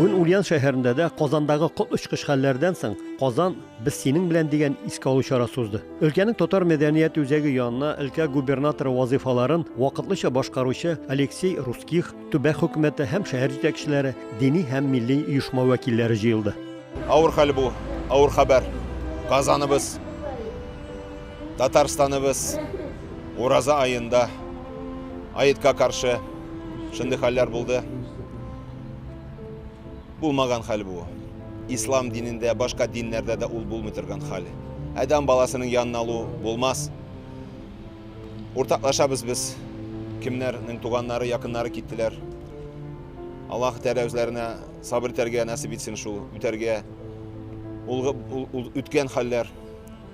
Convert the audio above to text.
Бүген Ульян шәһәрендә дә Казандагы кот очкыч хәлләрдән соң Казан без синең белән дигән искә алу чарасы узды. Өлкәнең татар мәдәният үзәге янына өлкә губернаторы вазыйфаларын вакытлыча башкаручы Алексей Русских, төбәк хөкүмәте һәм шәһәр җитәкчеләре, дини һәм милли оешма вәкилләре җыелды. Авыр хәл бу, авыр хәбәр. Казаныбыз Татарстаныбыз Ураза аенда аетка каршы шундый хәлләр булды. Булмаган хәл бу. Ислам динендә, башка диннәрдә дә ул булмый торган хәл. Адәм баласының янына алу булмас. Уртаклашабыз без. Кемнәрнең туганнары, якыннары киттеләр. Аллаһ Тәгалә үзләренә сабыр итәргә насип итсен шул, үтәргә. Ул, ул, ул үткән хәлләр.